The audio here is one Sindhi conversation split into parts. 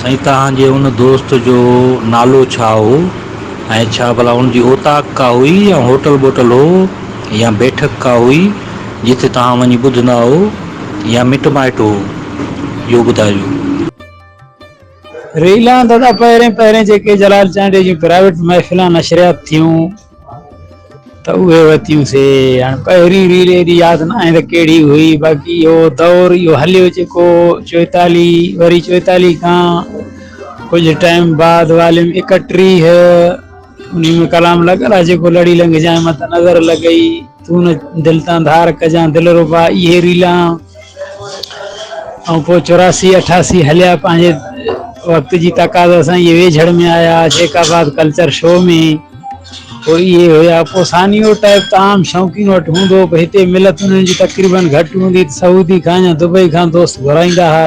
سائين توهان جي ان دوست جو نالو ڇا هو ۽ ڇا ڀلا ان جي اوطاق ڪا هئي يا هوٽل ٻوٽل هو يا بيٺڪ ڪا هئي جتي توهان وڃي ٻڌندا هئو يا مٽ مائٽ هو اهو ٻڌائجو. ريلان دادا پهرين پهرين جيڪي جلال چانڊيو جون پرائيوٽ محفلان نشريات ٿيون. ته اهي وتيون سي هاڻي پهرين ريل ايڏي ياد ناهي ته ڪهڙي هئي باقي اهو دور اهو هليو جيڪو چوئيتاليهه وري چوئيتاليهه کان ڪجهه ٽائيم بعد واليم ايڪٽيهه انهي ۾ ڪلام لڳل آهي جيڪو لڙي لنگهه جانء مت نظر لڳئي تون نه دل تان ڌار ڪجان دلربا اهي ريلان ۽ پوء چوراسي اٺاسي هليا پنهنجي وقت جي تقاضا سان اهي ويجهڙ ۾ آيا جيڪ آباد ڪلچر شو ۾ پوء اهي هيا پوء ثانيو ٽيپ ته عام شوقين وٽ هوندو به هتي ملت انهن جي تقريبن گهٽ هوندي ته سعودي کان يا دبئي کان دوست گهرائيندا ها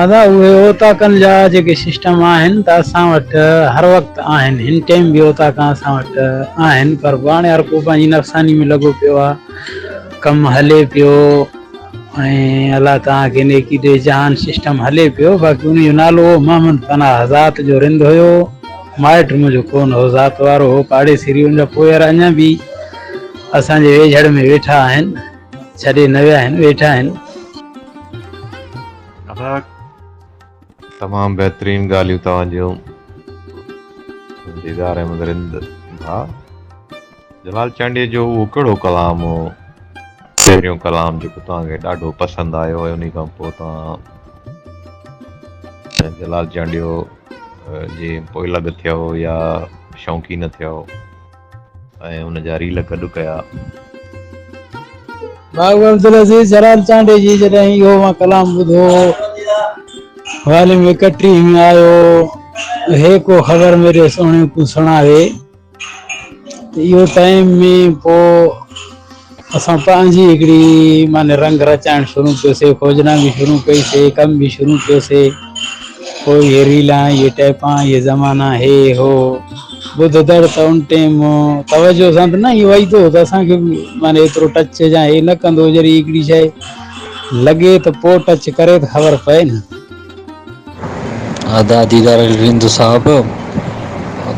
ادا اهي اوطاقن جا جيڪي سسٽم آهن ته اسان وٽ هر وقت آهن هن ٽيم به اوطاقا اسان وٽ آهن پر به هاڻي هر ڪو پنهنجي نفساني ۾ لڳو پيو آ ڪم هلي پيو ۽ الله توهان کي نيڪي ڏي جهان سسٽم هلي پيو باقي ان جو نالو محمد پناهه ذات جو رند هيو مائٽ منهنجو ڪونه هو، ذات وارو هو، پاڙيسي ريون جا پوئير اڃا به اسان جي ويجهڙ ۾ ويٺا آهن، ڇڏي نه ويا آهن، ويٺا آهن. تمام بهترين ڳالهيون توهان جون ديدار احمد رند ڀاء. جلال چانڊيي جو اهو ڪهڙو ڪلام هو پهريون ڪلام جيڪو توهان کي ڏاڍو پسند آيو ۽ انهي کان پوء توهان جلال چانڊيو جي پوئلڳ ٿيو يا شوقين ٿيو ۽ ان جا ريل گڏ ڪيا. بابو عبدالعزيز جلال چانڊيي جي جڏهن اهو مان ڪلام ٻڌو هو واليم ايڪٽريهه ۾ آيو هي ڪو خبر ميري سهڻي ڪون سڻاوي. اهو ٽائيم ۾ پوء اسان پنهنجي هڪڙي معني رنگ رچائڻ شروع ڪيوسي کوجنا به شروع ڪئي سي ڪم به شروع ڪيو سي پوء هي ريلان هي ٽيپان هي زمانا هي هو ٻڌندڙ ته ان ٽيم توجه سان ته نه ايئن وئيدو هو ته اسان کي به معني ايترو ٽچ جا هي نه ڪندو هو جڏهن هڪڙي شئي لڳي ته پوء ٽچ ڪري ته خبر پئي نه ادا ديدار علي رند صاحب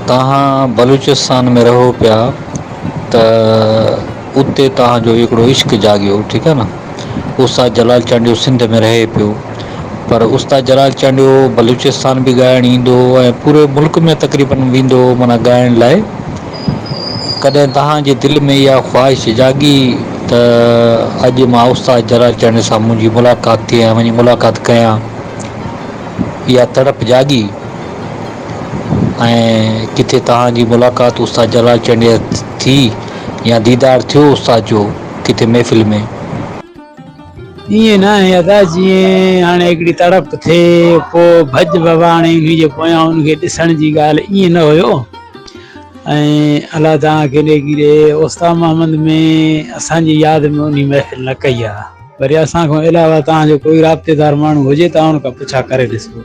توهان بلوچستان ۾ رهو پيا ته اتي توهان جو هڪڙو عشق جاڳيو ٺيڪ آ نه استاد جلال چانڊيو سنڌ ۾ رهي پيو پر استاد جلال چانڊيو بلوچستان به ڳائڻ ايندو هو ۽ پوري ملڪ ۾ تقريبن ويندو هو معنيٰ ڳائڻ لاء ڪڏهن توهان جي دل ۾ اها خواهش جاڳي ته اڄ مان استاد جلال چانڊيو سان منهنجي ملاقات ٿئي ۽ وڃي ملاقات ڪيان؟ اها تڙپ جاڳي ۽ ڪٿي توهان جي ملاقات استاد جلال چانڊيو ٿي يا ديدار ٿيو استاد جو ڪٿي محفل ۾. ائين ناهي ادا جيئن هاڻي هڪڙي تڙپ ٿئي پوء ڀڄ ڀڀاڻي انهي جي پويان ان کي ڏسڻ جي ڳالهه ائين نه هيو. ۽ الله توهان کي نيڪي ڏي استاد محمد ۾ اسان جي ياد ۾ انهي محفل نه ڪئي آ وري اسان کان علاوه توهان جو ڪوئي رابطي دار ماڻهو هجي ته ان کان پڇا ڪري ڏسو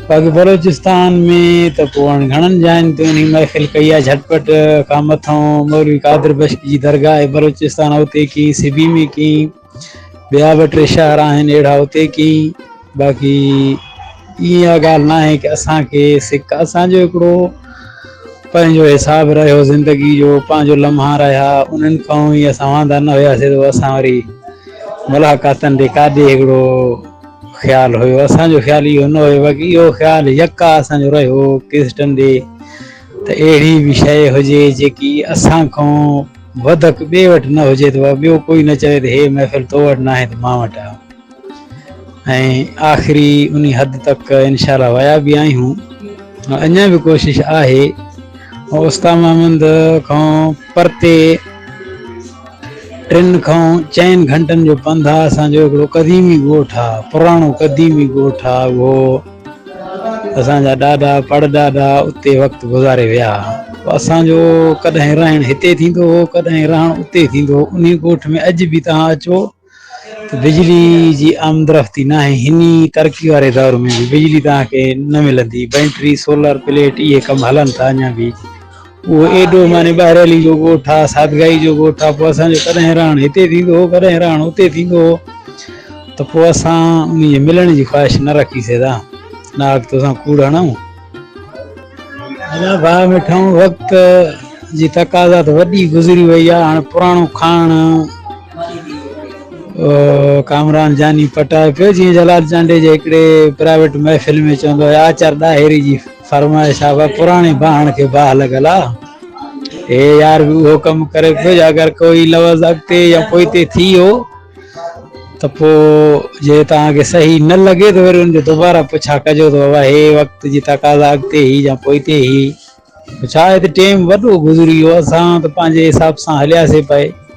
باقي بلوچستان ۾ ته پوء هاڻي گهڻن جاين تي انهي محفل ڪئي آ جهٽپٽ کان مٿئون مولوي قادر بشڪ جي درگاهه بلوچستان اوتي ڪئي سبي ۾ ڪئي ٻيا به ٽي شهر آهن اهڙا اتي ڪيئي باقي اها ڳالهه نه آهي ڪي اسان کي سڪ اسان جو هڪڙو پنهنجو حساب رهيو زندگي جو پنهنجو لمحا رهيا انهن کان ئي اسان واندا نه هياسي ته اسان وري ملاقاتن ڏي ڪاڏي هڪڙو خيال هيو اسان جو خيال اهو نه هيو باقي اهو خيال يڪا اسان جو رهيو ڪيسٽن ڏي ته اهڙي به شيء هجي جيڪي اسان کان وڌڪ ٻئي وٽ نه هجي ته وا ٻيو ڪوئي نه چوي ته هي محفل تو وٽ ناهي ته مان وٽ آء ۽ آخري انهي حد تڪ انشاء الله ويا به آهيون اڃا به ڪوشش آهي استاد محمد کان پرتي ٽن کان چئن گهنٽن جو پنڌ آ اسان جو هڪڙو قديمي ڳوٺ آ پراڻو قديمي ڳوٺ آ اهو اسان جا ڏاڏا پڙ ڏاڏا اتي وقت گذاري ويا هئا. اسان جو ڪڏهن رهڻ هتي ٿيندو هو ڪڏهن رهڻ اتي ٿيندو هو. انهي ڳوٺ ۾ اڄ به توهان اچو ته بجلي جي آمدرفتي ناهي. هني ترقي واري دور ۾ به بجلي توهان کي نه ملندي. بينٽري، سولر پليٽ اهي ڪم هلن ٿا اڃا به. اهو ايڏو معني ٻاهريلي جو ڳوٺ آ، سادگائي جو ڳوٺ آ، پوء اسان جو ڪڏهن رهاڻ هتي ٿيندو هو، ڪڏهن رهاڻ اتي ٿيندو هو ته پوء اسان انهي جي ملڻ جي خواهش نه رکي سگهيدا. ناهڪ توسان ڪوڙ هڻئون. ادا ڀاء مٺائون وقت جي تقاضا ته وڏي گذري وئي آ، هاڻ پراڻو کاڻ ڪامران جاني پٽائي پيو، جيئن جلال چانڊيو جي هڪڙي پرائيويٽ محفل ۾ چوندو هو، آچر ڏاهري جي. فرمائي صاحبه پراڻي باهڻ کي باهه لڳل آ هي يار به اهو ڪم ڪري پيو جي اگر ڪوئي لفظ اڳتي يا پوئتي ٿي ويو ته پو جي توهان کي صحيح نه لڳي ته وري ان جو دوباره پڇا ڪجو ته بابا هي وقت جي تقاضا اڳتي هي يا پوئتي هي ڇا هتي ٽيم وڏو گذري ويو اسان ته پنهنجي حساب سان هلياسي پئي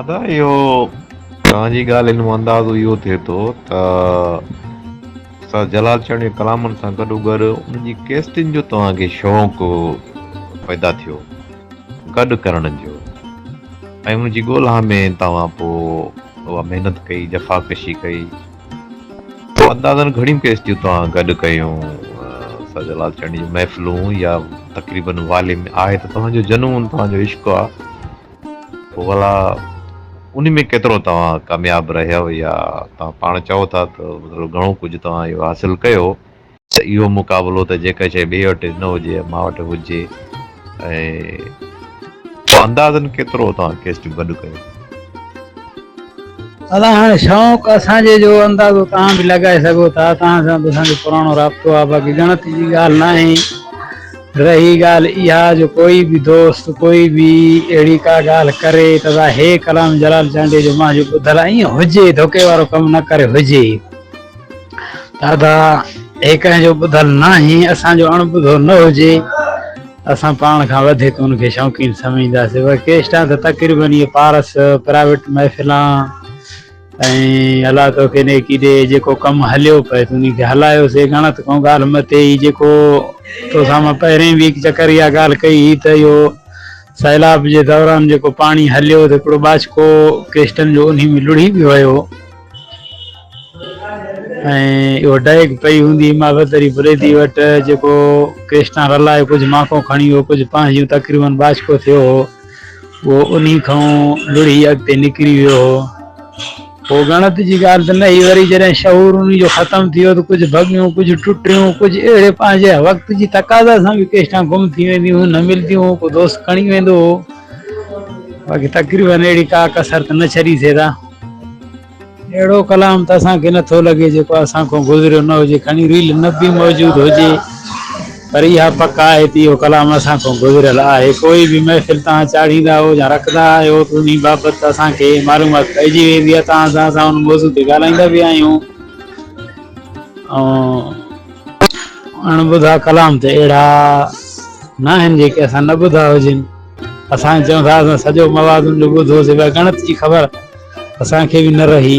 ادا اهو توهان جي ڳالهين مان اندازو اهو ٿئي ٿو ته استاد جلال چيان جي ڪلامن سان گڏو گڏ ان جي ڪيسٽن جو توهان کي شوق پيدا ٿيو گڏ ڪرڻ جو ۽ ان جي ڳولها ۾ توهان پوء اها محنت ڪئي جفا ڪشي ڪئي اندازن گهڻيون ڪيسٽيون توهان گڏ ڪيون استاد جلال چيان جون محفلون يا تقريبن والي ۾ آهي ته توهان جو جنون توهان جو عشق آهي پوء ڀلا انهي ۾ ڪيترو توهان ڪامياب رهيو يا توهان پاڻ چئو ٿا ته مطلب گهڻو ڪجهه توهان اهو حاصل ڪيو ته اهو مقابلو ته جيڪا شيء ٻئي وٽ نه هجي يا مان وٽ هجي ۽ اندازن ڪيترو توهان ڪيسٽ گڏ ڪيو. ادا هاڻي شوق اسان جي جو اندازو توهان به لڳائي سگهو ٿا توهان سان ته اسان جو پراڻو رابطو آهي باقي ڳڻتي جي ڳالهه ناهي. رهي ڳالهه اها جو ڪوئي به دوست ڪوئي به اهڙي ڪا ڳالهه ڪري ته ظاهي ڪلام جلال چانڊيي جو مان جو ٻڌل آهي ائين هجي ڌوڪي وارو ڪم نه ڪري هجي دادا هي ڪنهن جو ٻڌل ناهي اسان جو اڻ ٻڌو نه هجي اسان پاڻ کان وڌيڪ ان کي شوقين سمجهنداسين ورڪيسٽان ته تقريبن اهي پارس پرائيويٽ محفلان ۽ الله توکي نيڪي ڏي جيڪو ڪم هليو پئي تون انهي کي هلايو سي ڳڻت ڪون ڳالهه متي ئي جيڪو توسان مان پهرين به هڪ چڪر اها ڳالهه ڪئي هئي ته اهو سيلاب جي دوران جيڪو پاڻي هليو ته هڪڙو ٻاچڪو ڪيسٽن جو انهي ۾ لڙهي به ويو ۽ اهو ڊيگ پئي هوندي هئي مافتري بريدي وٽ جيڪو ڪيسٽان رلائي ڪجهه ماڪو کڻي ويو ڪجهه پنهنجيون تقريبن ٻاچڪو ٿيو هو پوء انهي کان لڙهي اڳتي نڪري ويو هو. پوء ڳڻت جي ڳالهه ته نه هئي، وري جڏهن شعور انهي جو ختم ٿي ويو ته ڪجهه ڀڳيون، ڪجهه ٽٽيون، ڪجهه اهڙي پنهنجي وقت جي تقاضا سان به ڪيشتان گم ٿي وينديون هيون، نه ملنديون هيون، ڪو دوست کڻي ويندو هو. باقي تقريباً اهڙي ڪا ڪسر ته نه ڇڏي سگهيا. اهڙو ڪلام ته اسان کي نه ٿو لڳي جيڪو اسان کان گذريو نه هجي، کڻي ريل نه به موجود هجي پر اها پڪ آهي ته اهو ڪلام اسان کان گذريل آهي. ڪوئي به محفل تان چاڙهيندا آهيو يا رکندا آهيو ته انهي بابت اسان کي معلومات پئجي ويندي آهي تان سان اسان ان موضوع تي ڳالهائيندا به آهيون ۽ اڻ ٻڌا ڪلام ته اهڙا ناهن جيڪي اسان نه ٻڌا هجن. اسان چئون ٿا اسان سڄو موازن جو ٻڌو سواء ڳڻت جي خبر اسان کي به نه رهي.